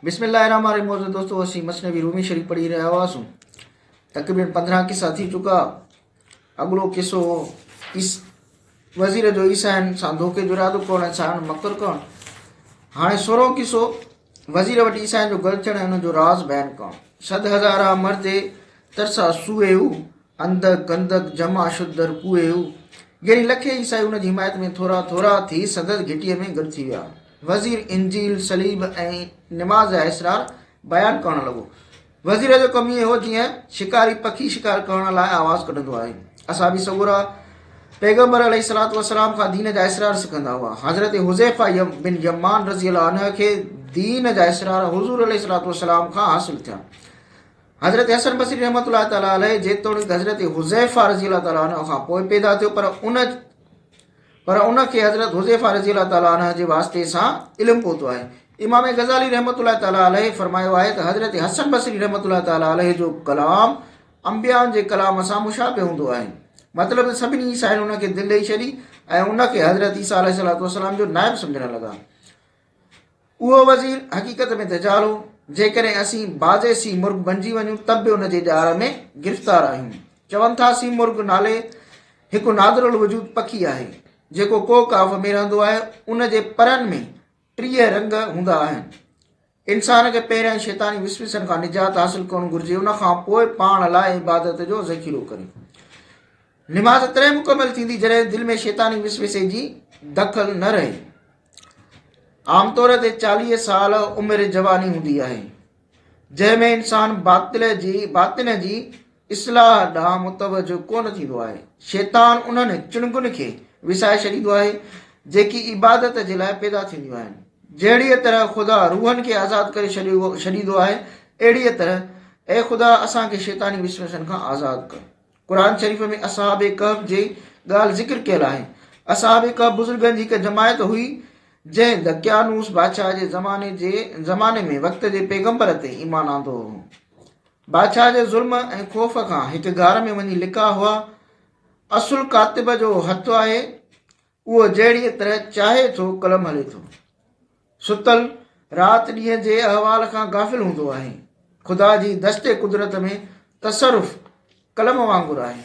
بسم الله الرحمن الرحيم معزز دوستو اسين مثنوي رومي شريف پڙهي رهيا هئاسون تقريبن پندرهن قصا ٿي چڪا اڳلو قصو هو وزير جو عيسائين سان ڌوڪي جو ارادو ڪرڻ عيسائين مڪر ڪرڻ هاڻي سورهون قصو وزير وٽ عيسائين جو گل ٿيڻ ۽ ان جو راز بيان ڪرڻ صد هزارا مرد ترسا سوئي هو انڌ گندد جم آشوبدر ڪوئي هو. ڳري لکي عيسائي ان جي حمايت ۾ ٿورا ٿورا ٿي سندس گهٽيء ۾ گڏ ٿي ويا. وزير انجيل، صليب ۽ نماز جا اسرار بيان ڪرڻ لڳو. وزير جو ڪم ائين هو جيئن شڪاري پکي شڪار ڪرڻ لاء آواز ڪڍندو آهي. اصحابي سڳورا پيغمبر عليه الصلوة والسلام کان دين جا اسرار سکندا هئا. حضرت حذيفه بن يمان رضي الله عنه کي دين جا اسرار حضور عليه الصلوة والسلام کان حاصل ٿيا. حضرت حسن بصري رحمت الله تعالٰي عليه جيتوڻيڪ حضرت حذيفه رضي الله تعالٰي عنه کان پوء پيدا ٿيو پر ان پر ان کي حضرت حذيفه رضي الله تعالٰي عنه جي واسطي سان علم پهتو آهي امام غزالي رحمت الله تعالٰي عليه فرمايو آهي ته حضرت حسن بصري رحمت الله تعالٰي عليه جو ڪلام انبيان جي ڪلام سان مشابه هوندو آهي مطلب ته سڀني عيسائين ان کي دل ڏيئي ڇڏي ۽ ان کي حضرت عيسيٰ عليه السلام جو نائب سمجھڻ لڳا اهو وزير حقيقت ۾ دجال هو، جيڪڏهن اسين بعض سي مرغ بنجي وڃون ته به ان جي ڄار ۾ گرفتار آهيون. چون ٿا سي مرغ نالي هڪ نادر الوجود پکي آهي، جيڪو ڪوهه ڪاف ۾ رهندو آهي، ان جي پرن ۾ ٽيهه رنگ هوندا آهن. انسان کي پهريائين شيطاني وسوسن کان نجات حاصل ڪرڻ گهرجي، ان کان پوء پاڻ لاء عبادت جو ذخيرو ڪري. نماز تڏهن مڪمل ٿيندي جڏهن دل ۾ شيطاني وسوسي جي دخل نه رهي. عام طور تي چاليهه سال عمر جواني هوندي آهي جنهن ۾ انسان باطل جي باطن جي اصلاح ڏانهن متوجه ڪونه ٿيندو آهي شيطان انهن چڻگن کي وسائي ڇڏيندو آهي جيڪي عبادت جي لاء پيدا ٿينديون آهن جهڙيء طرح خدا روحن کي آزاد ڪري ڇڏيندو آهي اهڙيء طرح اي خدا اسان کي شيطاني وسوسن کان آزاد ڪر قرآن شريف ۾ اصحاب ڪهف جي ڳالهه ذڪر ڪيل آهي اصحاب ڪهف بزرگن جي هڪ جماعت هئي جنهن دقيانوس بادشاهه جي زماني جي زماني ۾ وقت جي پيغمبر تي ايمان آندو هو بادشاهه جي ظلم ۽ خوف کان هڪ غار ۾ وڃي لڪا هئا اصل ڪاتب جو هٿ آهي اهو جهڙيء طرح چاهي ٿو قلم هلي ٿو. ستل رات ڏينهن جي احوال کان غافل هوندو آهي. خدا جي دست قدرت ۾ تصرف قلم وانگر آهي.